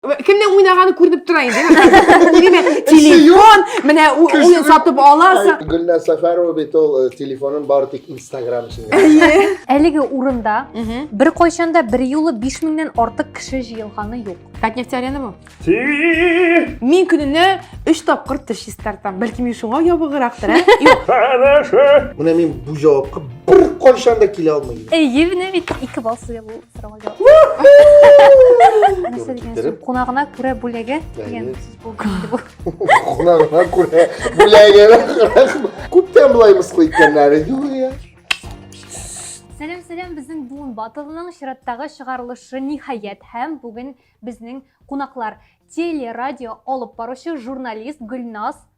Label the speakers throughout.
Speaker 1: Кемнең уйнаганы күренеп тора инде. Телефон, менә уен сатып аласы. Гөлнә Сәфәрова бит ул э, телефонын бары тик Instagram өчен. Әлеге урында бер кайчанда бер юлы 5 меңнән артык кеше җыелганы юк. Татнефть арена бу. Мин көненә 3 тапкыр теш чистартам. Бәлки мин шуңа ябыгырактыр, ә? Юк. Менә мин бу җавапка бер кайчан да килә алмыйм. Әйе, менә бит 2 балл сыйлы. Сорауга җавап. Нәрсә дигән сүз? Кунагына күрә бүләге дигән сүз булды. Кунагына күрә бүләге. Күптән болай мыскыл иткәннәре юк я. Сәлем, сәлем, безнең буын батылының чираттагы чыгарылышы ниһаять һәм бүген безнең кунаклар телерадио алып баручы журналист Гөлназ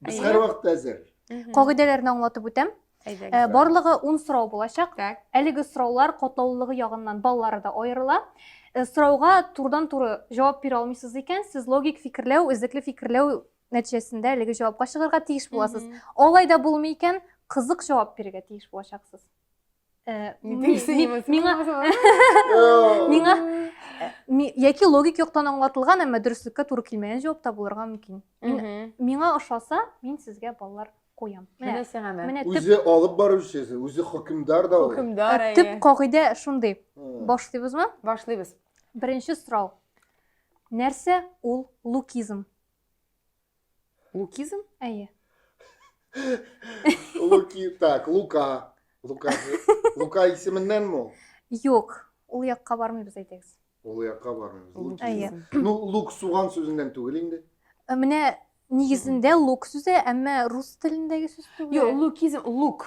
Speaker 1: Без Әйе. һәрвакыт әзер. Мгм. Кагыйдәләрне аңлатып үтәм. Әйдәгез. Э, Барлыгы 10 сорау булачак. Так. Әлеге сораулар катлаулылыгы ягыннан баллары да аерыла. Э, Сорауга турыдан-туры җавап бирә алмыйсыз икән, сез логик фикерләү, эзлекле фикерләү нәтиҗәсендә әлеге җавапка чыгарга тиеш буласыз. Мгм. Алай да булмый икән, кызык җавап бирергә тиеш булачаксыз. миңа миңа яки логик яктан аңлатылган әмма дөреслеккә туры килмәгән җавап та булырга мөмкин миңа ошаса мин сезгә балалар куям менә сиңа менә үзе алып баручы үзе хөкемдар да ул хөкемдар төп кагыйдә шундый башлыйбызмы башлыйбыз беренче сорау нәрсә ул лукизм Лукизм? Әйе. Луки, так, Лука. Лука, Лука исеменнән мо? Юк, ул якка бармыйбыз әйтегез. Ул якка бармыйбыз. Лук. Әйе. Ну, лук суган сүзеннән түгел инде. Э, менә нигезендә лук сүзе, әмма рус телендәге сүз түгел. Юк, лукизм, лук.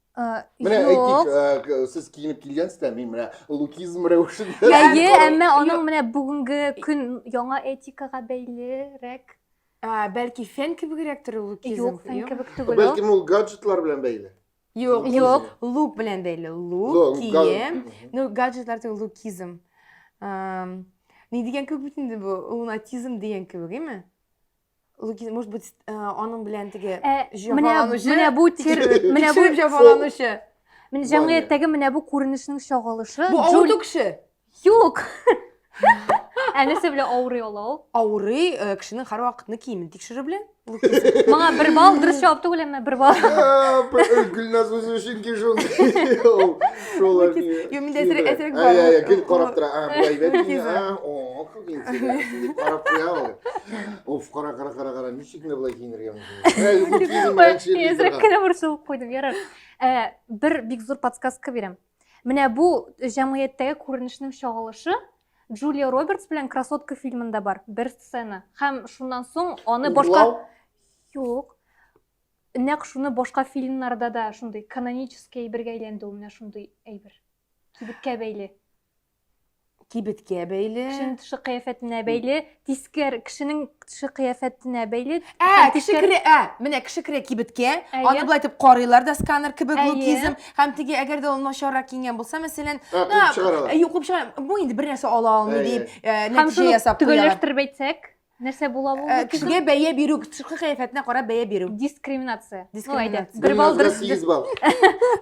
Speaker 1: Менә әйтик, э, сез киенеп килгәнсез дә, мин менә лукизм рәвешендә. Әйе, әмма аның менә бүгенге көн яңа этикага бәйлерәк. Бәлки фен кебегрәк торыр лукизм. Юк, фен кебек түгел. Бәлки ул гаджетлар белән бәйле. Юк, юк, лук белән бәйле. Лук, кием, ну гаджетлар түгел, лукизм. Ни дигән кебек бит инде бу? Лунатизм дигән кебек, әйме? Лугин, может быть, э, аның белән теге Ә, менә, җафаланучы, менә бу тер, менә бу, тикшереп җафаланучы. менә җәмгыятьтәге менә бу күренешнең чагылышы. Бу авырту Джуль- кеше. Юк. Ә нәрсә белән авырый ала ул? Авырый э, кешенең һәрвакытны киемен тикшерү белән. Лукин. Маңа бер балл дөрес җавап түгел, әмма бер балл. Ә, б- э, Гөлназ үзе өчен ки шул. Ул- Шул Лукин. әни. Юк, миндә әсерек- әсерек бар. Ай, ай, ай, Ул- гел карап тора. А, былай бәлки. Лукин. А, о, киен сиңа шундый карап куя ул оф кара кара кара кара ничек менә болай киенергә мөмкин әзрәк кенә борчылып куйдым ярар ә, бер бик зур подсказка бирәм менә бу җәмгыятьтәге күренешнең чагылышы джулия робертс белән красотка фильмында бар бер сцена һәм шуннан соң аны башка юк нәкъ шуны башка фильмнарда да шундый канонический әйбергә әйләнде ул менә шундый әйбер кибеткә бәйле кибеткә бәйле. Кешенең төше кыяфәтенә бәйле, тискәр кешенең төше кыяфәтенә бәйле. Ә, кеше керә, ә, менә кеше керә кибеткә, аны болай итеп карыйлар да сканер кебек лукизм, һәм теге әгәр дә ул начаррак киенгән булса, мәсәлән, куып чыгаралар. Юк, куып чыгаралар. Бу инде бернәрсә ала алмый дип, нәтиҗә ясап куялар. Һәм шуны төгәлләштереп әйтсәк? нәрсә була бу э, кешегә бәя бирү тышкы кыяфәтенә карап бәя бирү дискриминация дискриминация бер балл дөрес сигез балл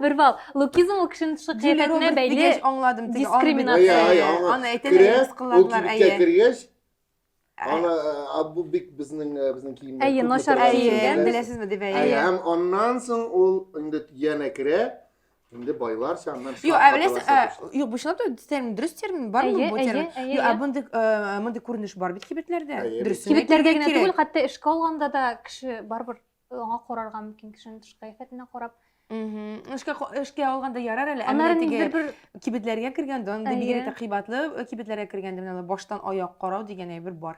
Speaker 1: бер балл лукизм ул кешенең тышкы кыяфәтенә бәйле аңладым дискриминация аны әйтәләр кыларлар әйе кергәч ә, ана ә, бу бик безнең ә, безнең киемнәр әйе начар киенгән беләсезме дип әйе һәм аннан соң ул инде янә керә Инде байларча аннан Юк, ә беләсең, ә, юк, бу чынлап та термин, дөрес термин бар Әйе, бу термин? әйе, әйе, Юк, ә мондый э, мондый күренеш бар бит кибетләрдә. Әйе, Дөрес. Кибетләрдә генә түгел, хәтта эшкә алганда да кеше барыбер аңа карарга мөмкин, кешенең тышкы кыяфәтенә карап. Мгм. Эшкә эшкә алганда ярар әле, ә Аннары менә бер кибетләргә кергәндә, анда бигрәк тә кыйбатлы э, кибетләргә кергәндә менә баштан аяк карау дигән әйбер бар.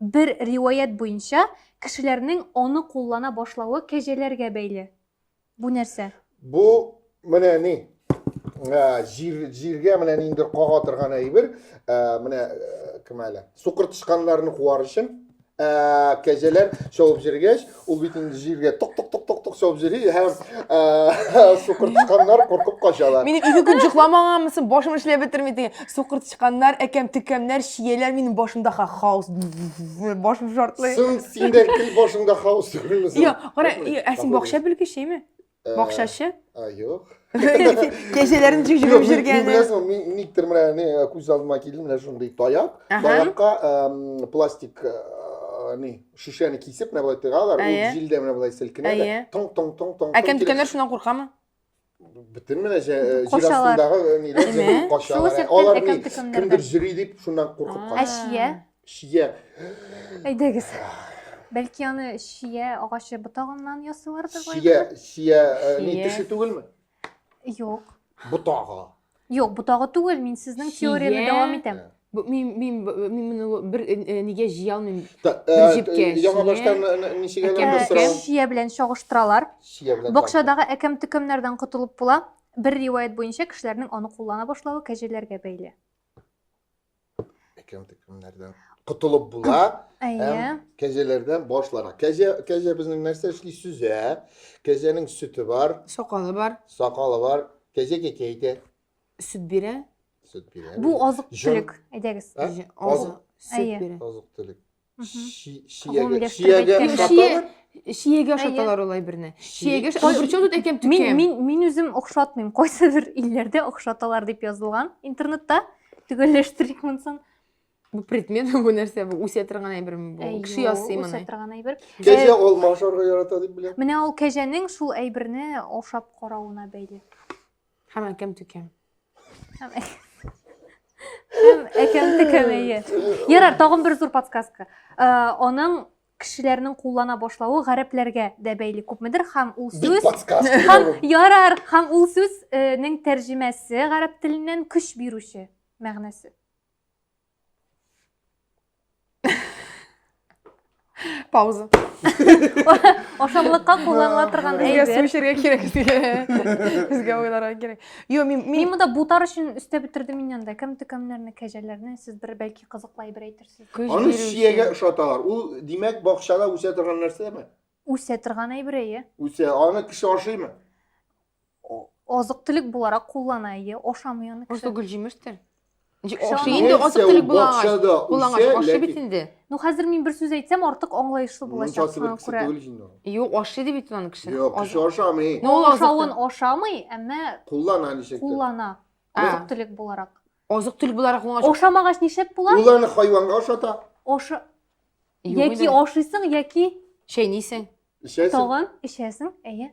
Speaker 1: Бер риваять буенча, кешеләрнең аны куллана башлавы кәҗәләргә бәйле. Бу нәрсә? Бу, менә ни, җир, җиргә менә ниндер кага торган әйбер, менә кем әле, сукыр тычканнарны куар өчен, кәҗәләр чабып җиргәч, Ул бит инде җиргә тук-тук-тук-тук-тук чабып йөри һәм сукыр тычканнар куркып качалар. Мине ике көн җокламаганмысың, башым эшләп бетерми диген. Сукыр тычканнар, әкәм-төкәмнәр, чияләр минем башымда хаос. Башым шартлый. Сын синдә кел башыңда хаос түгелме? Йо, кара, ә син бакча белгечеме? Бакчачы? А, юк. Кәҗәләрен җигеп җиргәне. Мин беләсең, мин никтер менә не күз алдыма килде, менә шундый таяк. Таякка пластик не шешәне кисеп, менә болай тыгалар, ул җилдә менә болай селкенә дә. Тоң тоң тоң тоң. Ә кем төкәнер шуннан куркамы? Бөтен менә җир астындагы ниләр качалар. Алар кемдер җөри дип шуннан куркып кала. Әшия. Шия. Әйдәгез. Бәлки аны шия агачы ботагыннан ясыйлардыр бай. Шия, шия, э, ни Шия. теше түгелме? Юк. Ботагы. Юк, ботагы түгел, мин сезнең Шия. теорияне дәвам итәм. Бу- Мин мин мин моны бер э, э, нигә җыя алмыйм. Та, э, Бер җепкә Яңа шия. баштан э, н- ничек Әкәм әле Ә, беткән. сорау? Шия белән чагыштыралар. Шия белән Бакчадагы әкәм-төкәмнәрдән котылып була. Бер риваять буенча кешеләрнең аны куллана башлавы кәҗәләргә бәйле. әкәм төкемнәрдән котылып була һәм кәҗәләрдән башлана кәҗә кәҗә безнең нәрсә эшли сүзә кәҗәнең сөте бар сакалы бар сакалы бар кәҗә кәкә әйтә сөт бирә сөт бирә бу азык түлек әйдәгез азык сөт бирә азык түлек Чиягә чиягә ашаталар. Чиягә ашаталар алай берне. Чиягә причем тут әкем тукем. Мин мин мин үзем охшатмыйм. Кайсы бер илләрдә охшаталар дип язылган интернетта. Төгәлләштерик монсын. Бу предмет бу нәрсә бу? Үсә торган әйберме бу? Кеше ясый моны. Үсә торган әйбер. Кәҗә алма ашарга ярата дип беләм. Менә ул кәҗәнең шул әйберне ашап каравына бәйле. Һәм әкәм төкәм. Һәм әкәм төкәмәе. Ярар, тагын бер зур подсказка. Аның кешеләрнең куллана башлавы гарәпләргә дә бәйле күпмедер һәм ул сүз һәм ярар һәм ул сүзнең тәрҗемәсе гарәп теленнән көч бирүче мәгънәсе пауза ашамлыкка кулланыла торган әйбер су эчәргә кирәк безгә уйларга кирәк юк мин мин монда бутар өчен өстәп бетердем мин анда кем төкәмнәрне кәҗәләрне сез бер бәлки кызыклы әйбер әйтерсез аны чиягә ошаталар ул димәк бакчада үсә торган нәрсәме үсә торган әйбер әйе үсә аны кеше ашыймы азык төлек буларак куллана ие ашамый аны просто гөлҗимештер ашы инде азык төлек булагач ашы бит инде ну хәзер мин бер сүз әйтсәм артык аңлаешлы булачак шуңа күрә юк ашый дип әйтте аны кеше юк кеше ашамый ул ашавын ашамый әмма куллана ничек куллана азык төлек буларак азык төлек буларак уңач ашамагач ничек була ул аны хайванга ашата ашы яки ашыйсың яки чәйнисең эчәсең тагын эчәсең әйе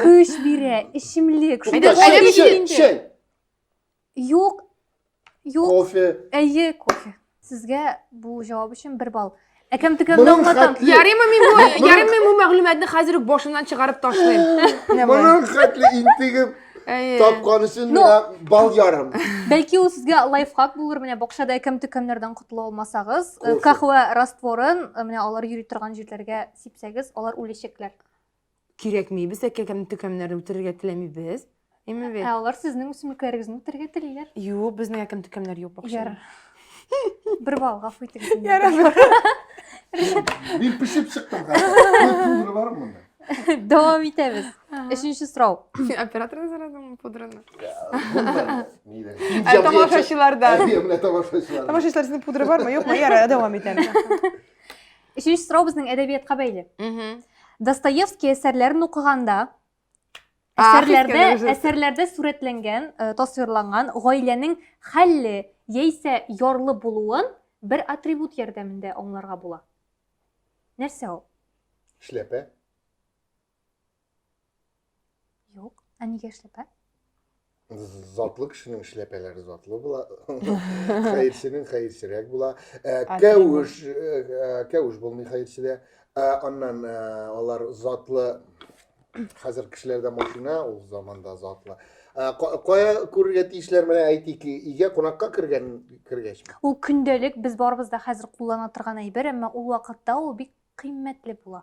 Speaker 1: Көч бирә, эчемлек. Шул да чәй, чәй, чәй. Юк, юк. Кофе. Әйе, кофе. Сезгә бу җавап өчен бер балл. Әкәм текәмне аңлатам. Ярыймы мин бу, ярыймы бу мәгълүматны хәзер үк башымнан чыгарып ташлыйм. Моның хәтле интегеп тапкан өчен миңа бал ярым. Бәлки ул сезгә лайфхак булыр, менә бакчада әкәм текәмнәрдән котыла алмасагыз, кахва растворын, менә алар йөри торган җирләргә сипсәгез, алар үләчәкләр. Кирәкми, без әкә кем төкәмнәрне үтерергә теләмибез. Әмма бит. Ә алар сезнең үсемлекләрегезне үтерергә телиләр. Юк, безнең әкем төкәмнәр юк бакча. Яр. Бер бал гафу итегез. Яр. Мин пешеп чыктым. Пудра бар монда. Дәвам итәбез. Өченче сорау. Операторны сорадыңмы пудраны? Ә тамашачылардан. Ә тамашачылардан. Тамашачылар сезнең пудра бармы, юкмы? Яра, дәвам итәм. Өченче сорау безнең әдәбиятка бәйле. Достоевский әсәрләрен укыганда, әсәрләрдә, әсәрләрдә сурәтләнгән, э, тасвирланган гаиләнең хәлле яисә ярлы булуын бер атрибут ярдәмендә аңларга була. Нәрсә ул? Эшләпә. Юк. Ә нигә эшләпә? Затлы кешенең эшләпәләре затлы була. Хәерченең хәерчерәк була. Ә, Кәвеш, ә, кәвеш булмый хәерчедә. Ә, Аннан ә, алар затлы хәзер кешеләрдә машина, ул заманда затлы. Ә, ка- Кая күрергә тиешләр менә әйтик, өйгә кунакка кергән кергәч. Ул көндәлек без барыбыз да хәзер куллана торган әйбер, әмма ул вакытта ул бик кыйммәтле була.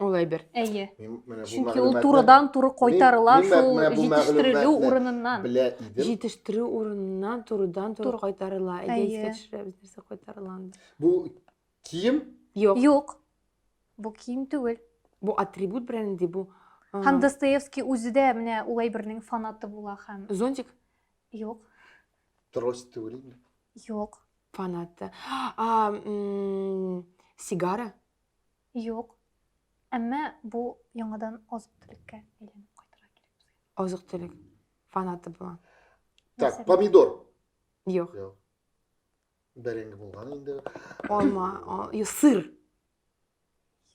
Speaker 1: Ул әйбер. Әйе. Мин менә бу Чөнки ул мәгълүматны- турыдан-туры кайтарыла Мин- мин шул менә бу җитештерелү мәгълүматны урыныннан. Белә идем. Җитештерү урыныннан турыдан туры Тур- кайтарыла. Әйдә Әйе. искә төшерәбез нәрсә кайтарыла анда. Бу кием Юк. Юк. Бу кием түгел. Бу атрибут бренди бу. а, Һәм Достоевский үзе дә менә ул әйбернең фанаты була һәм Зонтик юк, трость түгел инде. юк. фанаты. А, м, сигара. Юк. Әмма бу яңадан азык-төлеккә әйләнеп кайтырга кирәк безгә. Азык-төлек фанаты була. Так, Нәрсә? помидор. Юк. Юк. Бәрәңге булган инде. Алма, а- ю- сыр.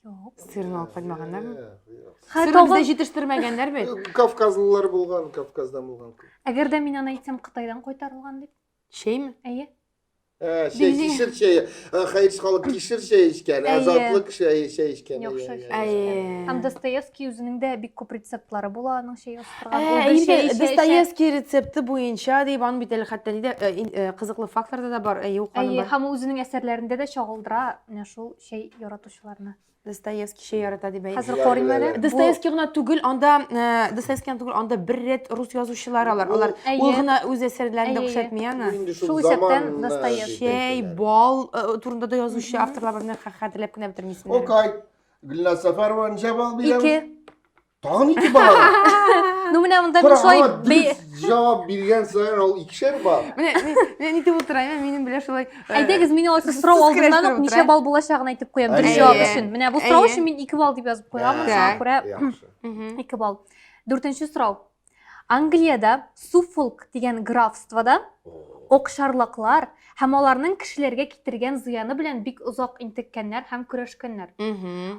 Speaker 1: Юк. Сырны алып кайтмаганнармы? Юк, юк. Хә, Сырны тагын- бездә җитештермәгәннәр бит. Кавказлылар булган, Кавказдан булган. Әгәр дә мин аны әйтсәм, Кытайдан кайтарылган дип Чәйме? Әйе. Ә, чәй, Били. кишер чәйе. Ә, Хәйрс халык кишер чәй эчкән, Әйе. азатлык чәй, чәй эчкән. Яхшы Әйе, чәй. әйе. Әйе. Һәм Достоевский үзенең дә бик күп рецептлары була аның чәй Ә, устырган. Ул бер инде чәй эчә, эчә. Достоевский рецепты буенча дип, аның бит әле хәтта нидә э, ин- э, кызыклы фактларда да бар. Әйе, ул ханым Әйе, бар. һәм ул үзенең әсәрләрендә дә чагылдыра менә шул чәй яратучыларны. Достоевскийча ярата дип әйтә. Хәзер карыйм әле. Достоевский гына түгел, анда э, Достоевский гына түгел, анда бер рәт рус язучылар алар. Алар Әйе. ул гына үз әсәрләрен дә Әйе. күрсәтми аны. Инде шул Шул исәптән заман, э, Достоевский. дип Чәй, әйтәләр. бал э, турында да язучы авторлар бар, менә хә- хәтерләп кенә бетермисең. әле. Окай. Гөлназ Сәфәрова ничә балл бирәбез? Ике. Тагын ике бала. Ну менә монда мин шулай җавап биргән саен ул икешәр бар. Менә мин әйтеп утырам, ә минем белән шулай. Э, Әйдәгез, мин алар сорау алдыннан ук ничә балл булачагын әйтеп куям, бер җавап өчен. Менә бу сорау өчен мин 2 балл дип язып куям, шуңа күрә 2 балл. Дүртенче сорау. Англиядә Суффолк дигән графствода окшарлаклар һәм аларның кешеләргә китергән зыяны белән бик озак интеккәннәр һәм көрәшкәннәр.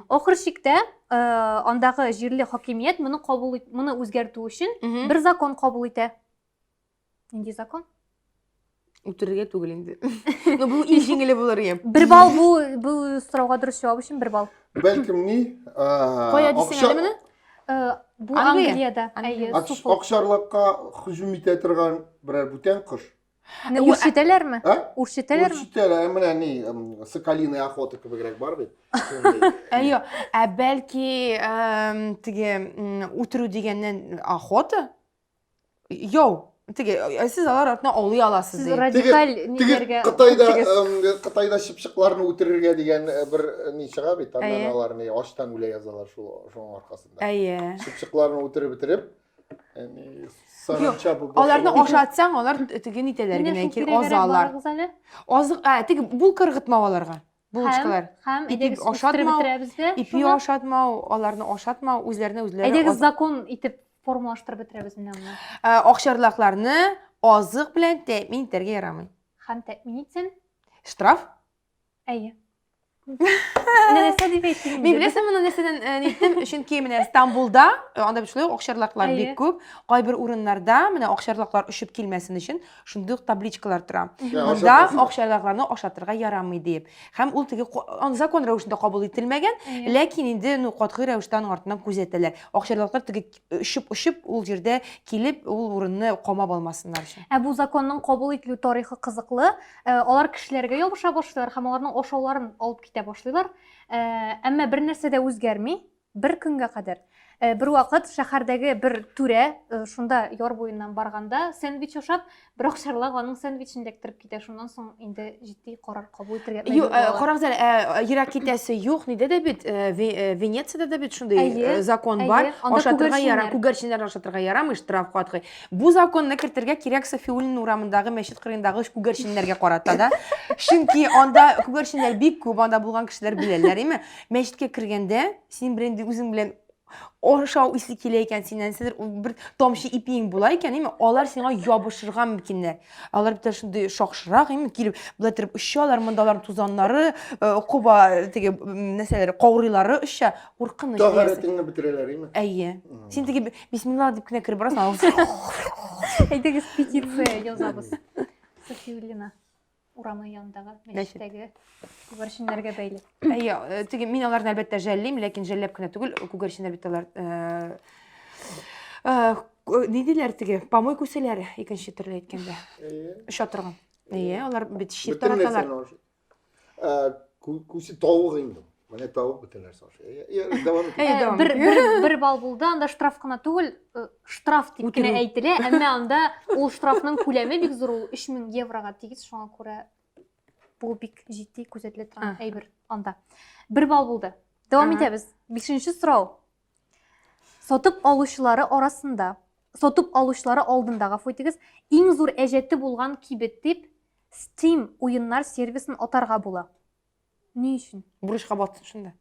Speaker 1: Ахыр чиктә э, андагы җирле хакимият моны кабул моны үзгәртү өчен бер закон кабул итә. Нинди закон? Үтерергә түгел инде. Ну, бу иң җиңеле булыр иде. Бер балл бу бу сорауга дөрес җавап өчен бер балл. Бәлкем ни? Кая дисең әле менә? Э, бу Англиядә. Әйе, суфл. Акшарлыкка һөҗүм итә торган берәр бүтән кош. Менә үрчетәләрме? Үрчетәләрме? Үрчетәләр, менә ни, соколиная охота кебегрәк бар бит. Әйе, ә бәлки теге үтерү дигәннән охота? Йоу, теге, ә сез алар артына аулый аласыз, Сез ди. радикаль Теге ниләргә... Кытайда, Теге- эм, Кытайда чыпчыкларны үтерергә дигән э, бер э, ни чыга бит, аннан Әйе. алар ни ачтан үлә язалар шул шуның аркасында. Әйе. Чыпчыкларны үтереп бетереп, яни саранча бу. Аларны ашатсаң, алар теге нитәләр Менә генә шул кир кирәгәрәк азалар. барыгыз әле. Азык, ә, теге булка ыргытмау аларга. булочкалар. Һәм, һәм әйдәгез ашатмау, бетерәбез дә. Ипи ашатмау, аларны ашатмау, үзләренә үзләре. Әйдәгез закон итеп формалаштырып бетерәбез менә моны. Ә, Акчарлакларны азык белән тәэмин итәргә ярамый. Һәм тәэмин итсен? Штраф? Әйе. Менә нәрсә дип әйттем. Мин беләсең моны нәрсәдән э, әйттем? Чөнки менә Стамбулда, э, анда бит шулай акчарлаклар бик күп. Кайбер урыннарда менә акчарлаклар очып килмәсен өчен шундый ук табличкалар тора монда акчадакларны ашатырга ярамый дип һәм ул теге закон рәвешендә кабул ителмәгән ләкин инде ну катгый рәвештә аның артыннан күзәтәләр акчадаклар теге очып очып ул җирдә килеп ул урынны камап алмасыннар өчен ә бу законның кабул ителү тарихы кызыклы э, алар кешеләргә ябыша башлыйлар һәм аларның ашауларын алып китә башлыйлар э, әмма бер нәрсә дә үзгәрми Бер көнгә кадәр. Э, бер вакыт шәһәрдәге бер түрә э, шунда яр буеннан барганда сэндвич ашап бер акчарлак аның сэндвичен эләктереп китә шуннан соң инде җитди карар кабул итәргә мәҗбүр э, була карагыз әле ерак китәсе юк нидә дә бит венецияда да бит шундый закон бар ашатырга яра күгәрченнәрне ашатырга ярамый штраф катгый бу законны кертергә кирәк сафиуллин урамындагы мәчет кырыендагы күгәрченнәргә карата да чөнки анда күгәрченнәр бик күп анда булган кешеләр беләләр име Мәчеткә кергәндә, синең белән инде үзең белән ашау исе килә икән синнән, сидер бер тамчы ипиең була икән, әйме, алар сиңа ябышырга мөмкиннәр. Алар бит шундый шакшырак, әйме, килеп, болай торып очалар, монда алар тузаннары, э, коба теге нәрсәләре, каурыйлары оча, куркыныч. Тагыретеңне бетерәләр, әйме? Әйе. Син теге бисмилла дип кенә кереп барасың. Әйдәгез петиция язабыз. София Ильина. урамы янындагы мәчеттәге күгәрченнәргә бәйле. Әйе, э, теге мин аларны әлбәттә жәллим, ләкин жәлләп кенә түгел, күгәрченнәр бит алар э, э, ни диләр теге помой күсәләр икенче төрле әйткәндә. Оча торган. Әйе, алар бит чир тараталар. Күсе тавык инде. Менә табып бөтен нәрсә аша. Э, э, э, дәвам итә. Бер бер бер бал булды, анда штраф кына түгел, штраф дип кенә әйтелә, әмма анда ул штрафның күләме бик зур, ул 3000 еврога тигез, шуңа күрә бу бик җитди күзәтелә торган әйбер анда. Бер бал булды. Дәвам итәбез. 5нче сорау. Сатып алучылары арасында, сатып алучылары алдында, гафу итегез, иң зур әҗәте булган кибет дип Steam уеннар сервисын атарга була. Ни өчен? Бурычка батсын шунда.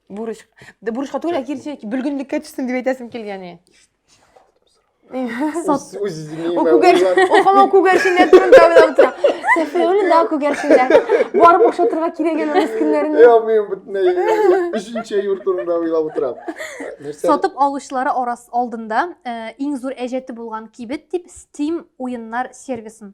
Speaker 1: Бурыч. Да бурычка түгел, ә кирсә бөлгенлеккә төшсен дип әйтәсем килгәне. Сат. Үз үзеңә. О күгәр, о хамау күгәршендә турында уйлап тора. Сәфәр үле да күгәршендә. Барып ошатырга кирәк әле рус көннәрен. Я мин бөтенләй өченче юр турында уйлап утырам. Нәрсә? Сатып алучылары арас алдында иң зур әҗәте булган кибет дип Steam уеннар сервисын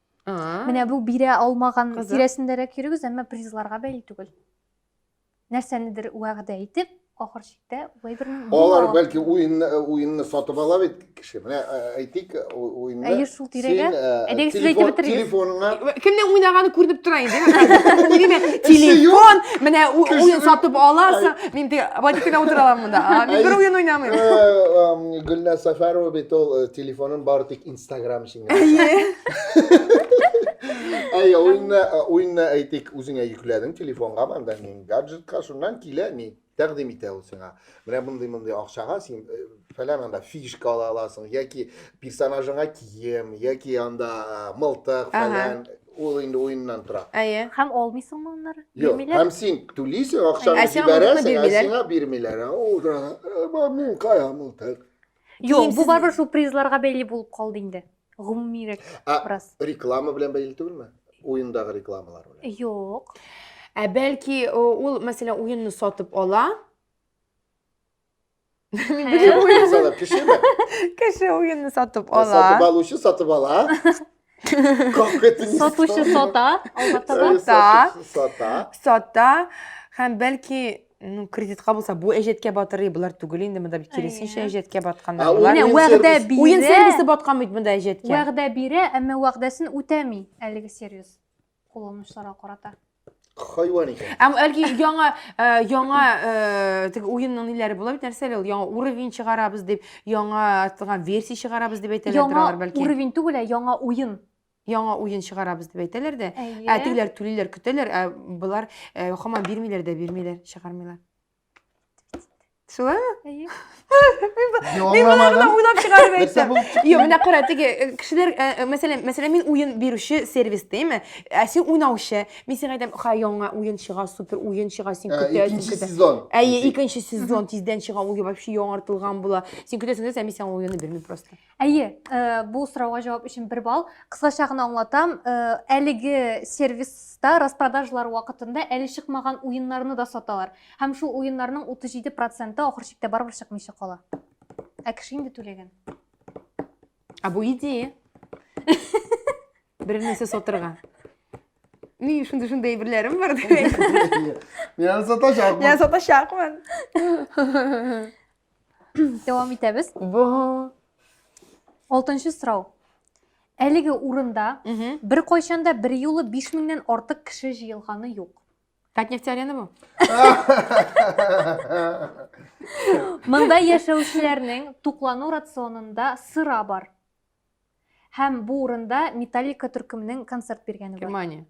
Speaker 1: Менә бу бирә алмаган тирәсендәрәк йөрегез, әмма призларга бәйле түгел. Нәрсәнедер вәгъдә итеп, ахыр чиктә улай бер Алар бәлки уенны уенны сатып ала бит кеше. Менә әйтик, уенны. Әйе, шул тирәгә. Әйдәгез сез әйтеп бетерегез. Телефоныңа. Кемнең уйнаганы күренеп тора инде. Телефон, менә уен сатып аласың. Мин дә водитель утыра алам монда. Мин бер уен уйнамыйм. Гөлназ Сафарова бит ул телефонын бары тик Instagram Әйе. Әйе, уенны, уенны әйтик, үзеңә йөкләдең телефонга, монда ни гаджетка, шуннан килә ни тәкъдим итә ул сиңа. Менә мондый мондый акчага син э, фәлән анда фишка ала аласың, яки персонажыңа кием, яки анда э, мылтык фәлән. Ул инде уеннан тора. Әйе. Һәм алмыйсыңмы аннары? Юк, һәм син түлисең, акчаны Ә сиңа мылтыкны җибәрәсең, ә бирмиләр. сиңа бирмиләр. Ә Ул да, «Ә, мин кая мылтык? Юк, бу барбер шул призларга бәйле булып калды инде. Гомумирәк раз. Реклама белән бәйле түгелме? Уендагы рекламалар белән. Юк. Ә бәлки ул, мәсәлән, уенны сатып ала. Мин Кеше уенны сатып ала. Сатып алучы сатып ала. Как это не Сатучы сата, албатта да. Сата. Сата. Сата. Һәм бәлки ну кредитка булса бу әҗәткә батырый болар түгел инде монда бит киресенчә әҗәткә батканнар болар менә вәгъдә бирә уен сервисы баткан бит монда әҗәткә вәгъдә бирә әмма вәгъдәсен үтәми әлеге сервис кулланучыларга карата хайван икән Әм әлки яңа э, яңа э, теге уенның ниләре була бит нәрсә әле ул яңа уровень чыгарабыз дип яңа артылган версия чыгарабыз дип әйтәләрдер яңа алар бәлки уровень түгел ә яңа уен яңа уен чыгарабыз дип әйтәләр дә ә тегеләр түлиләр көтәләр ә болар э, хаман бирмиләр дә бирмиләр чыгармыйлар Шулай ма? Әйе. Мин монарны уйлап чыгарып әйтсәм. Юк, менә кара, теге э, кешеләр, э, э, мәсәлән, мәсәлән, мин уен бирүче сервис дейме? Ә син уйнаучы. Мин сиңа әйтәм, ха, яңа уен чыга, супер уен чыга, син көтә. Икенче сезон. Әйе, икенче сезон тиздән чыга, ул вообще яңартылган була. Син көтәсең дә, мин сиңа уенны бирмим просто. Әйе, э, бу сорауга җавап өчен бер балл. Кыскача гына аңлатам, э, әлеге сервиста распродажлар вакытында әле чыкмаган уеннарны да саталар. Һәм шул уеннарның 37 проценты ахыр чиктә барыбер чыкмыйча кала. Ә кеше инде түләгән. А бу идея. Бер нәрсә сатырга. Ни шундый шундый әйберләрем бар дип. Мин аны сатачакмын. Я сатачакмын. Дәвам итәбез. Бу. Алтынчы сорау. Әлеге урында бер кайчанда бер юлы 5000 нен артык кеше җыелганы юк. Татнефть арена бу. Монда яшәүчеләрнең туклану рационында сыра бар. Һәм бу урында Металлика төркеменең концерт биргәне бар. Германия.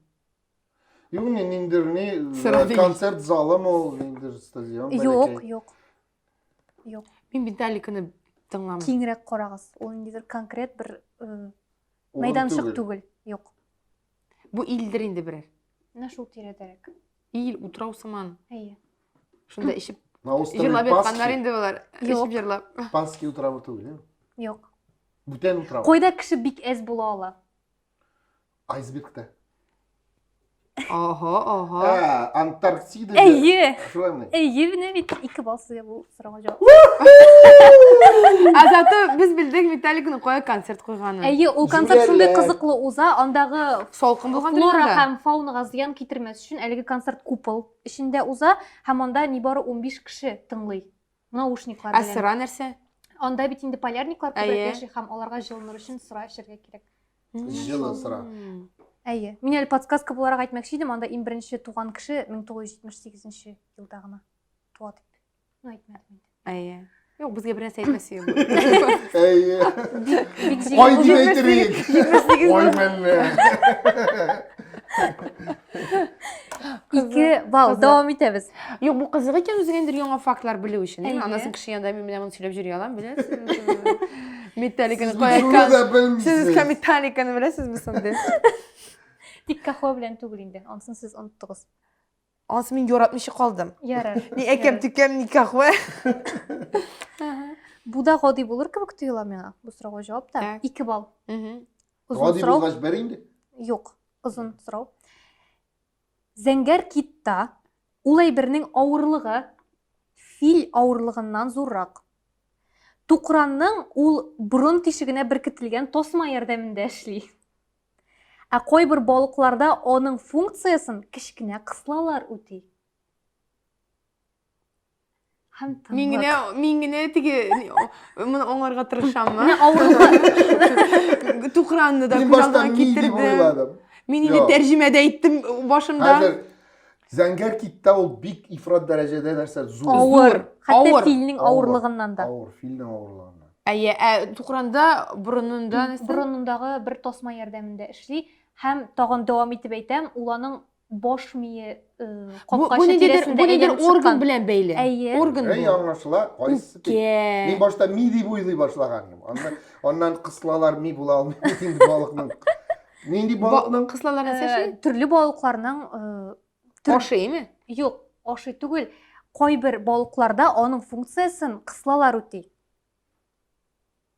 Speaker 1: Юк, не, ниндер, не, э, концерт залы мол, ниндер стадион. Юк, юк. Юк. Мин Металликаны тыңламам. Киңрәк карагыз. Ул ниндидер конкрет бер э, мәйданчык түгел. Юк. Бу илдер инде берәр. Менә шул тирәдәрәк. Ил, утрау сыман. Әйе. Шунда ишеп На острове җырлап ятканнар инде болар. Ишеп җырлап. Пасхи утравы түгел, Юк. Бүтән утрау. Койда кеше бик әз була ала. Айсбергта. Ага, ага. Ә, Антарктида. Әйе. Шулаймы? Әйе, менә бит ике балл сезгә бу сорауга җавап. Азаты без белдек Виталикның кая концерт куйганын. Әйе, ул концерт шундый Җүләрләр. кызыклы уза, андагы Салкын булган флора дөньяда. һәм фаунага зыян китермәс өчен әлеге концерт купол эчендә уза һәм анда нибары 15 кеше тыңлый. наушниклар белән. Ә сыра нәрсә? Анда бит инде полярниклар күбрәк яши һәм аларга җылыныр өчен сыра эчәргә кирәк. Җылы сыра. Әйе. Мин әле подсказка буларак әйтмәкче идем, анда иң беренче туган кеше 1978 елда гына туа дип. Ну, әйтмәдем инде. Әйе. Юк, безгә бернәрсә әйтмәсе юк. Әйе. Ай дип әйтерик. Ай мәллә. Ике бал, дәвам итәбез. Юк, бу кызык икән үзеңә инде яңа фактлар белү өчен. Анасын кеше янында мин менә моны сөйләп йөри алам, беләсезме? Металликаны кайка. Сез кем металликаны беләсезме соңда? Тик кахо белән түгел инде. Ансын сез оныттыгыз. Ансы мин яратмыйча калдым. Ярар. Ни әкәм тикәм ни кахо. Бу да гади булыр кебек тоела миңа. Бу сорауга җавап та 2 балл. Озын Гади сорау. булгач бер инде. Юк, озын сорау. Зәңгәр китта ул әйбернең авырлыгы фил авырлыгыннан зуррак. Тукранның ул борын тишегенә беркетелгән тасма ярдәмендә эшли. Ә кайбер балыкларда аның функциясен кечкенә кыслалар үти. һәм тынлык. Мин генә, мин генә теге моны аңарга тырышаммы? Менә авырлык. Тукранны да күз алдына китердем. Мин инде тәрҗемәдә әйттем башында. Хәзер Зәңгәр киттә ул бик ифрат дәрәҗәдә нәрсә зур. Авыр. Хәтта филнең авырлыгыннан да. Авыр, филнең авырлыгыннан. Әйе, ә Тукранда борынында нәрсә? Борынындагы бер тасма ярдәмендә эшли һәм тагын дәвам итеп әйтәм, ул аның баш мие капкачы тирәсендә әйләнеп чыккан. орган белән бәйле. Әйе. Орган бу. Әй, аңлашыла. Кайсы тиң? Мин башта ми дип уйлый башлаган идем. Аннан, аннан кыслалар ми була алмый. Мин балыкның. Нинди балыкның? Кыслалар нәрсә ши? Э, төрле балыкларның э, ашы име? Юк, ашы түгел. Кайбер балыкларда аның функциясен кыслалар үти.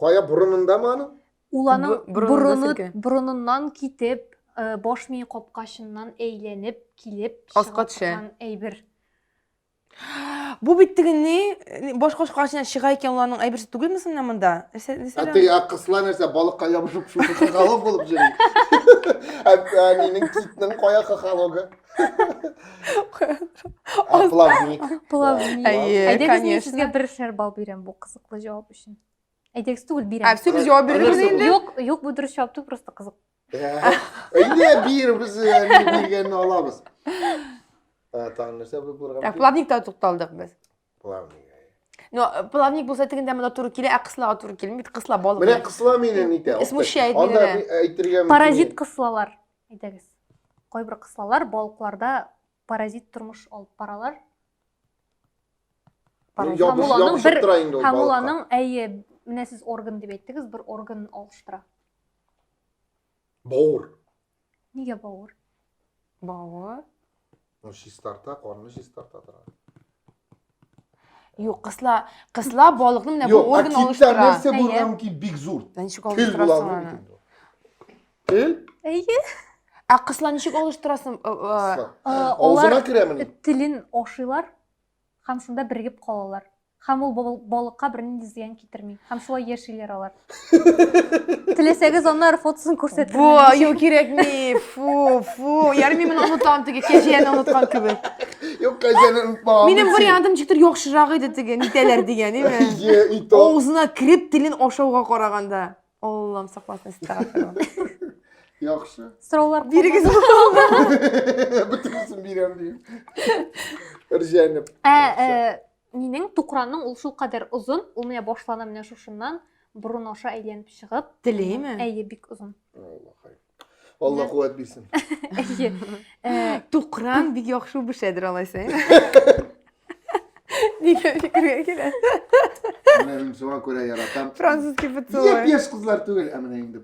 Speaker 1: Кая борынындамы аның? Ул аның борыны, борыныннан китеп, э, баш мие капкачыннан әйләнеп килеп аска төшә. Әйбер. Бу бит теге ни баш капкачыннан чыга икән, ул аның әйберсе түгелме соң менә монда? Нәрсә? Ә теге ә кыслар нәрсә балыкка ябышып шушы кыгалып булып йөри. Ә әнинең китнең кая кыгалогы? Плавник. Плавник. Әйдәгез, мин сезгә бер шәрбал бирәм бу кызыклы җавап Әйдәгез түгел бирәм. Ә, все без җавап бирдек инде. Юк, юк, бу дөрес җавап түгел, просто кызык. Әйдә бир, без биргәнне алабыз. Тагын нәрсә булып булган? Ә плавникта тукталдык без. Плавник. Но э, плавник булса тегендә монда туры килә, ә кыслага туры килми, бит кысла балык. Менә кысла мине нитә. Смущает мине. Анда әйтергә Паразит кыслалар. Әйдәгез. Кайбер кыслалар балыкларда Паразит тормыш алып баралар. Ябышып бер... тора инде ул Һәм ул аның, әйе, менә сез орган дип әйттегез, бер орган алыштыра. Бауыр. Нигә бауыр? Бауыр. Ну, чистарта, корны чистарта тора. Юк, кысла, кысла балыкны менә бу орган алыштыра. Юк, а китсә нәрсә булган ки бик зур. Тел була Тел? Әйе. Ә кысла ничек алыштырасың? Э, э, э, Авызына керәмени? Телен ашыйлар һәм шунда бирегеп калалар. Һәм ул балыкка бернинди зыян китерми. Һәм шулай яшиләр алар. Теләсәгез аннары фотосын күрсәтәм. Бу, юк кирәкми. Фу, фу. Ярми мин онытам теге кәҗәне оныткан кебек. Юк, кәҗәне онытмаган. Минем вариантым ничектер яхшырак иде теге, нитәләр дигән, име? Авызына кереп телен ашауга караганда. Аллам сакласын истәгәферләх. Яхшы. Сораулар Бирегез Бөтенесен бирәм дим. Рҗәнеп. Ә, э, минем тукранның ул шул кадәр озын, ул менә башлана менә шушыннан, борын аша әйләнеп чыгып. Телейме? Әйе, бик озын. Алла хайр. Алла куәт бирсен. Э, Тукран бик яхшы бешәдер алайса. Нигә фикергә килә? Мен шуңа күрә яратам. Француз кебек Нигә пеш кызлар түгел, ә менә инде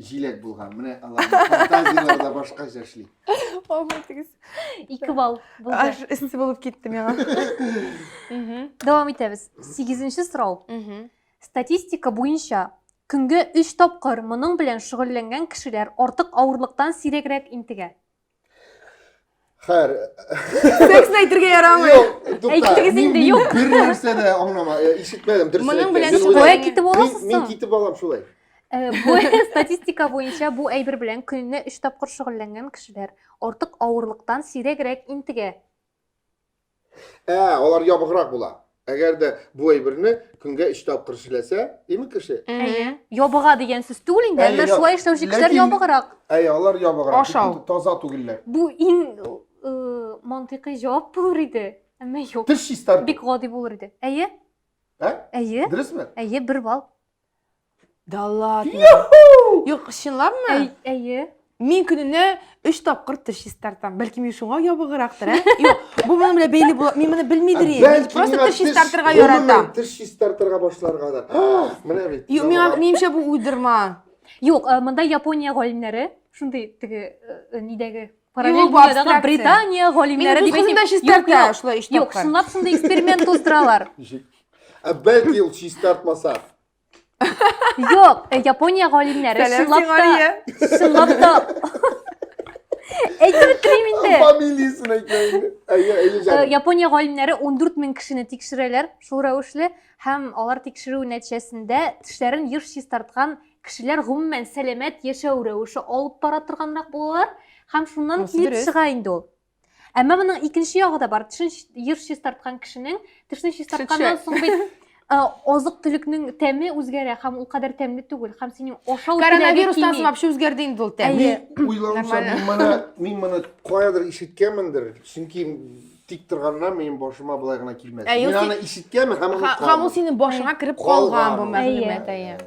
Speaker 1: җиләк булган. Менә аларның фантазияләре дә башкача эшли. Алмайтыгыз. Ике балл булды. Аж эссе булып китте миңа. Дәвам итәбез. Сигезенче сорау. Статистика буенча, көнгә өч тапкыр моның белән шөгыльләнгән кешеләр артык авырлыктан сирәгрәк интегә. Хәер. Текстны әйтергә ярамый. Юк, тукта. Әйтегез Мин- инде, мин юк. Бер нәрсә дә аңлама, э, ишетмәдем, дөресен Моның әйткән. белән Мин шөгыль- уйлап- Кая китеп Мин, аласыз мин соң? китеп алам шулай. Э, Бу статистика буенча бу әйбер белән көненә өч тапкыр шөгыльләнгән кешеләр артык авырлыктан сирәгрәк интегә. Ә, алар ябыграк була. Әгәр дә бу әйберне көнгә 3 тапкыр эшләсә, димек кеше? Әйе. Ябыга дигән сүз түгел инде, әмма шулай эшләүче кешеләр ябыграк. Әйе, алар ябыграк. Ашау. Таза түгелләр. Бу иң э, мантыйкый җавап булыр иде. Әмма юк. Теш чистарту. Бик гади булыр иде. Әйе? Ә? Әйе. Дөресме? Әйе, бер балл. Да ладно. Юк, чынлапмы? Әйе. Мин көненә 3 тапкыр теш чистартам. Бәлки мин шуңа ябыгырактыр, ә? Юк, бу моның белән бәйле була. Мин моны белмидер идем. Мин просто теш чистартырга яратам. Теш чистартырга башларга да. Менә бит. Юк, миңа минемчә бу уйдырма. Юк, монда Япония галимнәре шундый теге нидәге Параллель дөньядагы Британия галимнәре дип әйтәм. Мин чистарта шулай эш Юк, сынлап сынды эксперимент уздыралар. Ә бәлки ул чистартмаса. Юк, э, Япония галимнәре сынлап та сынлап та Әйтеп телим инде. Фамилиясен әйтмә инде. Әйе, әйе җаным. Э, Япония галимнәре 14 мең кешене тикшерәләр шул рәвешле һәм алар тикшерү нәтиҗәсендә тешләрен еш чистарткан кешеләр гомумән сәламәт яшәү рәвеше алып бара торганрак булалар һәм шуннан килеп чыга инде ул әмма моның икенче ягы да бар тешен еш чистарткан кешенең тешне чистартканнан соң бит Э, азык төлекнең тәме үзгәрә һәм ул кадәр тәмле түгел һәм синең ашау коронавирустан соң вообще үзгәрде инде ул тәм уйлавымча мин моны мин моны каядыр ишеткәнмендер чөнки тик торганнан минем башыма былай гына килмәде. Ә, Мин юк, аны ишеткәнмен һәм аны Һа- Һәм ул синең башыңа кереп калган Калган бу ул. мәгълүмат. Әйе.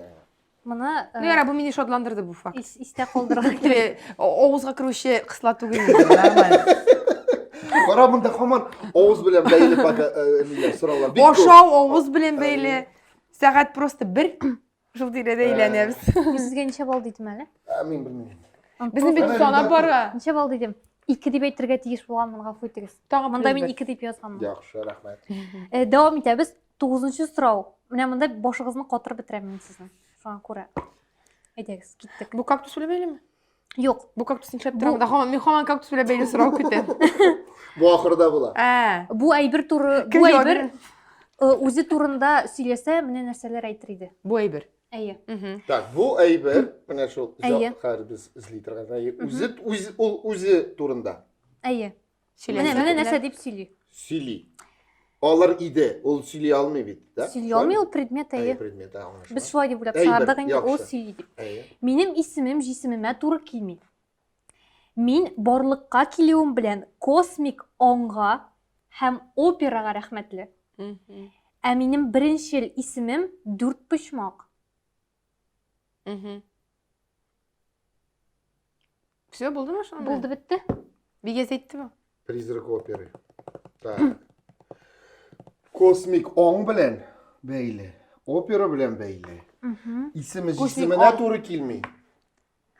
Speaker 1: Моны э, Ну, ярар, бу мине шатландырды бу факт. ис- истә калдырырга кирәк. Теге о- авызга керүче кысла түгел инде, нормально. Кара монда һаман авыз белән бәйле пока, э, ниләр, сораулар. Бик күп. Ашау авыз белән бәйле. Сәгать просто бер, Шул тирәдә әйләнәбез. Мин сезгә ничә балл дидем әле? Ә, Мин белмим. Безнең бит сана бара. Ничә балл дидем? Ике дип әйтергә тиеш булганмын, гафу итегез. Тагын Монда мин ике дип язганмын. Яхшы, рәхмәт. Э, Дәвам итәбез. Тугызынчы сорау. Менә монда башыгызны катырып бетерәм мин сезнең. Шуңа күрә. Әйдәгез, киттек. Бу кактус үләме? Юк. Бу кактус нишләп тора? Да хаман мин хаман кактус белән бәйле сорау көтәм. Бу ахырда була. Ә. Бу әйбер туры, бу әйбер э, үзе турында сөйләсә, менә нәрсәләр әйтер иде. Бу әйбер. Әйе. Так, бу әйбер, менә шул хәзер без эзли торган әйбер. Үзе үзе ул үзе турында. Әйе. Менә менә нәрсә дип сөйли. Сөйли. Алар иде, ул сөйли алмый бит, да? Сөйли алмый, ул предмет әйе. Предмет, аңлашылды. Без шулай дип уйлап чыгардык инде, ул сөйли дип. Әйе. Минем исемем җисемемә туры килми. Мин барлыкка килүем белән космик аңга һәм операга рәхмәтле. Ә минем беренче исемем дүрт почмак. Все, булды ма шунда? Булды бетте. Бигә әйттеме? Призрак оперы. Так. Космик оң белән бәйле, опера белән бәйле. Исеме җисеменә туры килми.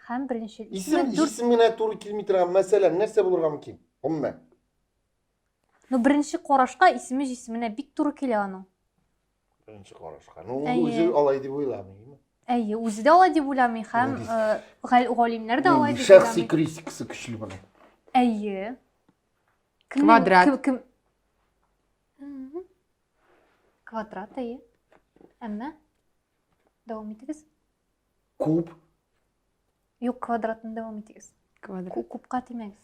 Speaker 1: Һәм беренче исем җисеменә туры килми торган мәсәлән нәрсә булырга мөмкин? Гомумән. Ну беренче карашка исеме җисеменә бик туры килә аның. Беренче карашка. Ну, ул үзе алай дип уйламыймы? Әйе, үзе дә алай дип уйламый һәм галимнәр дә алай дип уйламый. Шәхси критикасы көчле була. Әйе. Квадрат. Кем? Квадрат, әйе. Әмма дәвам итегез. Куб. Юк, квадратны дәвам итегез. Квадрат. Кубка тимәгез.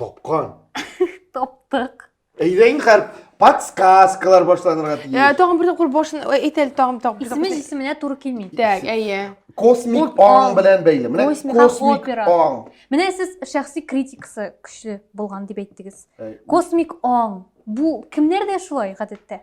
Speaker 1: Тапкан. Таптык. Әйдә инде хәр подсказкалар башланырга тиеш. Ә, Тагын бер тапкыр башын әйт әле тагын тагын. бер Исеме тапкыр. җисеменә туры килми. Так, әйе. Космик Ут, аң аң. белән бәйле. Менә Космик аң, космик опера. аң. Менә сез шәхси критикасы көчле булган дип әйттегез. Әй, Космик аң. Бу кемнәрдә шулай гадәттә?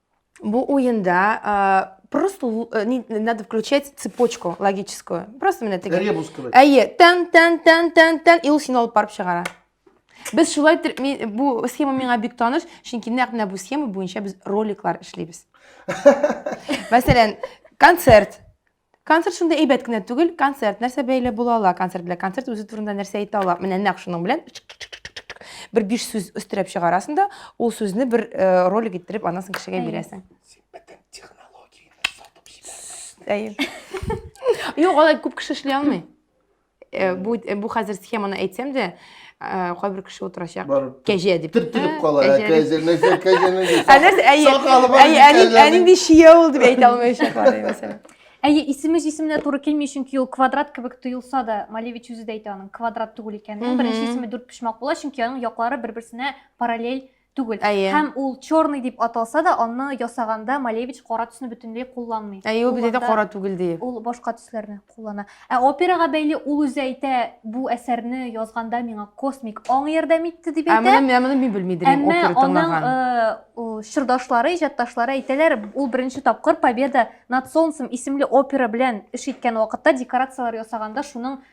Speaker 1: Бу уенда э, просто л- э, не- надо включать цепочку логическую. Просто менә теге. Ребус кебек. Әйе, тән, тән, тән, тән, тән, и ул сине алып барып чыгара. Без шулай тер- ми- бу схема миңа бик таныш, чөнки нәкъ менә бу схема буенча без роликлар эшлибез. Мәсәлән, концерт. Концерт шундый әйбәт кенә түгел. Концерт нәрсә бәйле була ала концерт белән? Концерт үзе турында нәрсә әйтә ала? Менә нәкъ шуның белән бер биш сүз өстерәп чыгарасың да, ул сүзне бер э, ролик иттереп аннан соң кешегә бирәсең. Әйе. Юк, алай күп кеше эшли алмый. Э, бу э, бу хәзер схеманы әйтсәм дә э, кайбер кеше утырачак кәҗә дип төртелеп кала кәҗә нәрсә кәҗә нәрсә әнинди чия ул дип әйтә алмаячаклар мәсәлән әйе исеме җисеменә туры килми чөнки ул квадрат кебек тоелса да малевич үзе дә әйтә аның квадрат түгел икәнен беренче исеме дүрт почмак була чөнки аның яклары бер берсенә параллель түгел. Әйе. Һәм ул черный дип аталса да, аны ясаганда Малевич кара төсне бөтенләй кулланмый. Әйе, ул бит кара түгел ди. Ул башка төсләрне куллана. Ә операга бәйле ул үзе әйтә, бу әсәрне язганда миңа космик аң ярдәм итте дип әйтә. Ә менә менә моны мин белмидер инде опера тыңлаган. Әмма чырдашлары, иҗатташлары әйтәләр, ул беренче тапкыр Победа над солнцем исемле опера белән эш иткән вакытта декорацияләр ясаганда шуның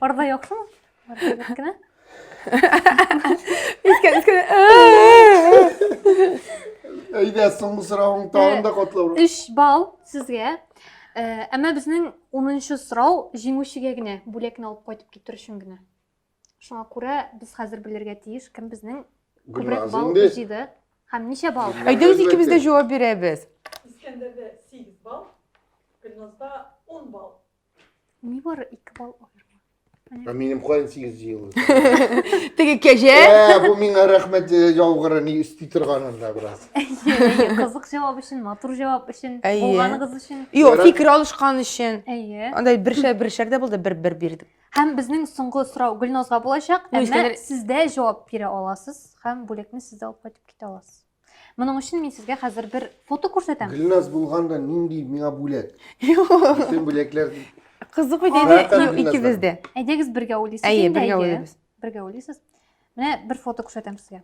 Speaker 1: Арда яктымы? Кенә. Әйдә, соңгы сорауың тагын да котлау. 3 балл сезгә. Әмма безнең 10нчы сорау җиңүчегә генә бүләкне алып кайтып китер өчен генә. Шуңа күрә без хәзер белергә тиеш, кем безнең күбрәк балл җыйды һәм ничә балл. Әйдә үз икебез дә җавап бирәбез. Искәндәрдә 8 балл, Гөлназда 10 балл. Ни бар ике бал аерма. Ә минем каян сигез ел? Теге кәҗә. Ә, бу миңа рәхмәт э, яугыры ни өсти торган анда бераз. Кызык җавап өчен, матур җавап өчен, булганыгыз өчен. Юк, фикер алышкан өчен. Әйе. Андай бершәр бершәр дә булды, бер-бер бирдек. Һәм безнең соңгы сорау Гөлназга булачак, әмма сездә җавап бирә аласыз һәм бүлекне сездә алып кайтып китә аласыз. Моның өчен мин сезгә хәзер бер фото күрсәтәм. Гөлназ булганда нинди миңа бүләк? Бөтен бүләкләр Кызык бит әйдә икебез дә. Әйдәгез бергә уйлыйсыз инде. Әйе, бергә уйлыйбыз. Бергә уйлыйсыз. Менә бер фото күрсәтәм сезгә.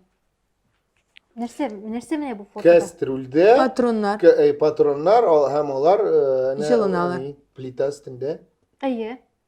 Speaker 1: Нәрсә, нәрсә менә бу фото? Кәстрүлдә патроннар. Э, патроннар һәм алар э, җылыналар. Плита өстендә. Әйе.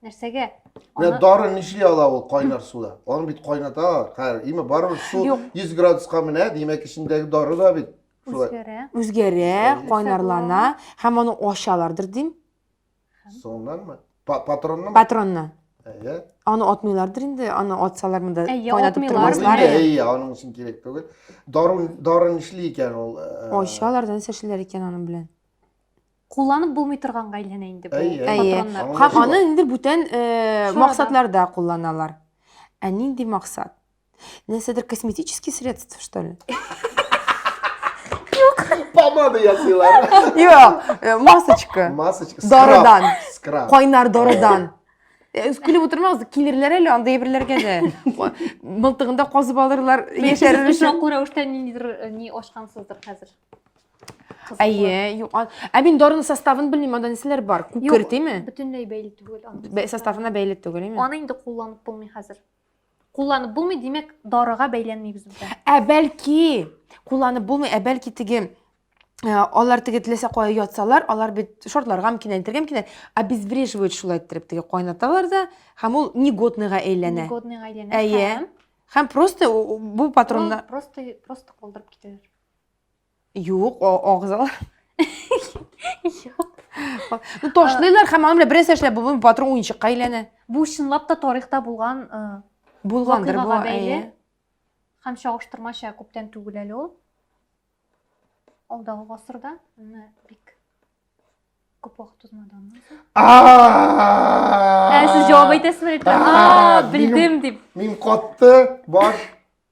Speaker 1: нәрсәгә Менә дары нишли ала ул кайнар суда? Аны бит кайната хәр. Име барыбер су 100 градуска менә, димәк эчендәге дары да бит шулай. Үзгәрә. Үзгәрә, кайнарлана һәм аны ачалардыр дим. Соңнанмы? Патроннан? Патроннан. Әйе. Аны атмыйлардыр инде, аны атсалар монда кайнатып тормаслар. Әйе, аның өчен кирәк түгел. Дары дары нишли икән ул? Ачалар да нәрсә эшләр икән аның белән? Кулланып булмый торганга әйләнә инде бу патроннар. Һәм аны инде бүтән максатларда кулланалар. Ә нинди максат? Нәрсәдер косметический средство, что ли? Помада ясыйлар. Юк, масочка. Масочка. Дарыдан. Скраб. Кайнар дарыдан. Көлеп утырмагыз, килерләр әле анда әйберләргә дә. Мылтыгында казып алырлар, яшәрер өчен. Чакура уштан ниндидер ни ашкансыздыр хәзер. Әйе, юкан. Ә мин дарының составын белмим, анда нәрсәләр бар? Күкер, тиме? Бөтенләй бәйле түгел аның. Составына бәйле түгел, име? Аны инде кулланып булмый хәзер. Кулланып булмый, димәк, дарыга бәйләнми без монда. Ә бәлки, кулланып булмый, ә бәлки теге э, алар теге теләсә кая ятсалар, алар бит шортларга мөмкин, әйтергә мөмкин, обезвреживают шулай иттереп теге кайнаталар да, һәм ул негодныйга әйләнә. Негодныйга әйләнә. Әйе. Һәм просто бу патронда просто просто калдырып китәләр. Юк, агызал. Ну, ташлыйлар һәм аны белән бернәрсә эшләп булмый, батырың уенчыкка әйләнә. Бу чынлап та тарихта булган э, булгандыр бу бәйле. Һәм чагыштырмача күптән түгел әле ул. Алдагы гасырда менә бик күп вакыт узмады аннан. Ә сез җавап әйтәсезме? А, белдем дип. Мин катты, баш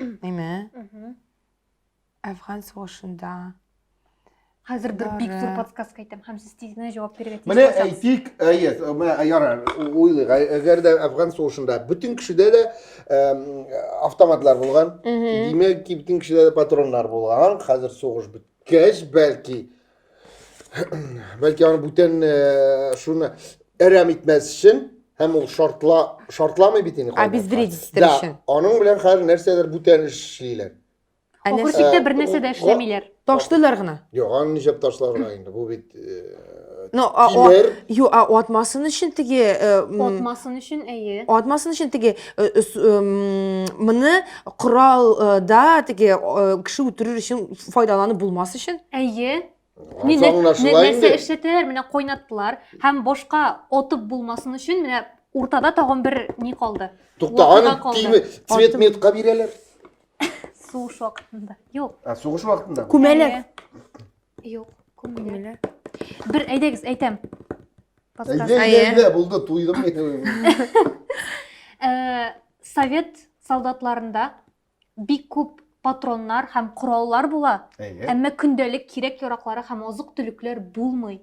Speaker 1: Әйме? Әфган сугышында. Хәзер бер бик зур подсказка әйтәм һәм сез тиз генә җавап бирергә тиеш. Менә әйтик, әйе, менә ярар, уйлыйк. Әгәр дә Әфган сугышында бөтен кешедә дә автоматлар булган, димәк, бөтен кешедә дә патроннар булган. Хәзер сугыш беткәч, бәлки, бәлки аны бүтән э, шуны әрәм итмәс өчен һәм ул шартла шартламый бит инде обездрить итер өчен аның белән хәзер нәрсәдер бүтән эшлиләр күрсәттә бер нәрсә дә эшләмиләр ташлыйлар гына юк аны нишләп ташларга инде бу бит но тимер юк атмасын өчен теге атмасын өчен әйе атмасын өчен теге моны коралда теге кеше үтерер өчен файдаланып булмас өчен әйе нәрсә эшләтәләр менә кайнаттылар һәм башка отып булмасын өчен менә уртада тагын бер ни калды тукта аны цвет метка бирәләр сугыш вакытында юк сугыш вакытында күмәләр Юк, күңеле. Күңеле. Бер әйдәгез, әйтәм. Подсказ- Әйдә, Әйе. әйдә, әйдә, булды, туйдым мин. Э, Совет солдатларында бик күп патроннар һәм кораллар була, Әйе. әмма көндәлек кирәк-яраклары һәм азык-төлекләр булмый.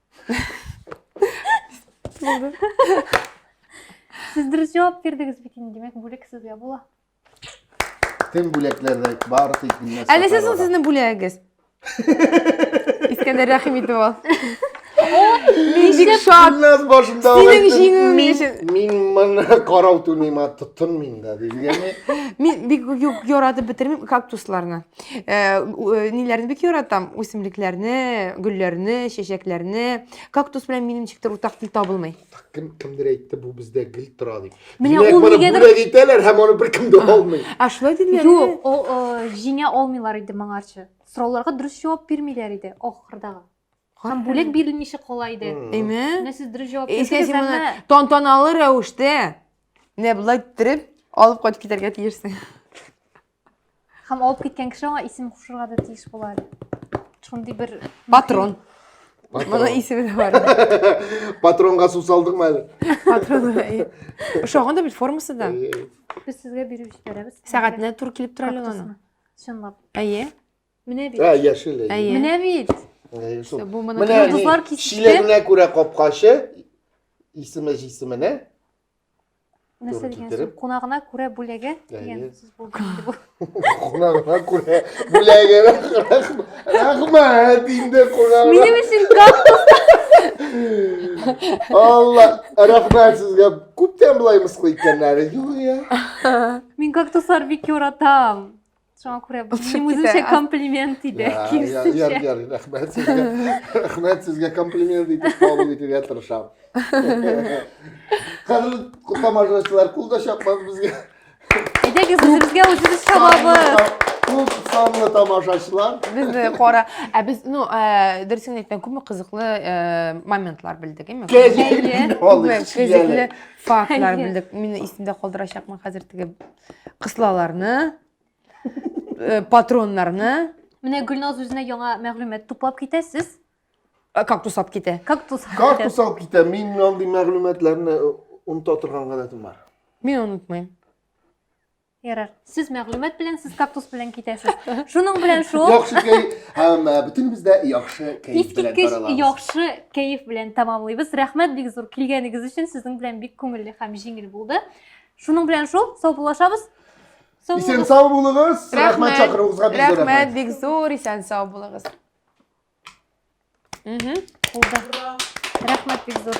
Speaker 1: Булды. Сез дөрес җавап бирдегез бит инде, димәк, бүләк сезгә була. Тем бүләкләрдә барысы икеннән. Әле сез ул сезнең бүләгегез. Искәндәр рәхим итеп ал. Мин бик шат. Гөлназ башында Синең җиңүең өчен. Мин моны карау түмим, тотынмыйм да, дигәнме? Мин бик юк яратып бетермим кактусларны. Э, э, ниләрне бик яратам үсемлекләрне гөлләрне чәчәкләрне кактус белән минем ничектер уртак тел табылмый кем кемдер әйтте бу бездә гел тора дип менә ул нигәдер бүләк итәләр һәм аны беркем дә алмый а шулай диделәр юк ул э, җиңә алмыйлар иде моңарчы сорауларга дөрес җавап бирмиләр иде ахырдагы һәм бүләк бирелмичә кала иде әйме менә сез дөрес җавап бирдегез әмма тантаналы рәвештә менә болай иттереп алып кайтып китәргә тиешсең Һәм алып киткән кеше аңа исем кушырга да тиеш була. Шундый бер Патрон. Моның исеме дә бар. Патронга су салдыңмы әле? Патрон. Ошаган да бит формасы да. Без сезгә биреп җибәрәбез. Сәгатенә тур килеп тора әле аның. Чынлап. Әйе. Менә бит. Ә, яшел. Әйе. Менә бит. Бу моны кызлар кисте. Шиләренә күрә капкачы, исеме җисеменә. Нәрсә дигән сүз? Кунагына күрә бүләге дигән сүз булды инде бу. Кунагына күрә бүләге. Рәхмәт инде кунагына. Минем өчен кактус. Алла, рәхмәт сезгә. Күптән болай мыскыл иткәннәре юк я. Мин кактуслар бик яратам. Шуңа күрә бу минем үземчә комплимент иде. Ярый, ярый, рәхмәт сезгә. Рәхмәт сезгә комплимент итеп кабул итергә тырышам. Хәзер тамашачылар кул да чапмас безгә. Әйдәгез, үзебезгә үзебез чабабыз. Күп санлы тамашачылар. Без кара, ә без, ну, дөресен әйткәндә, күпме кызыклы моментлар белдек, әйме? Күпме кызыклы фактлар белдек. Мине исемдә калдырачакмын хәзер теге Кыслаларны, э, патроннарны, Менә Гөлназ үзенә яңа мәгълүмат туплап китә, сез э, кактус алып китә. кактус Кактус алып китә. Мин андый мәгълүматларны э, оныта торган гадәтем бар. Мин онытмыйм. Ярар. Сез мәгълүмат белән, сез кактус белән китәсез. Шуның белән шул Яхшы кәй һәм э, бөтенебез дә яхшы кәй белән искиткеч таралабыз. яхшы кәеф белән тәмамлыйбыз. Рәхмәт бик зур килгәнегез өчен. Сезнең белән бик күңелле һәм җиңел булды. Шуның белән шул, саубуллашабыз. Исән сау булыгыз. Рәхмәт чакыруыгызга бик зур рәхмәт. бик зур, исән сау булыгыз. Мгм. Кулда. Рәхмәт бик зур.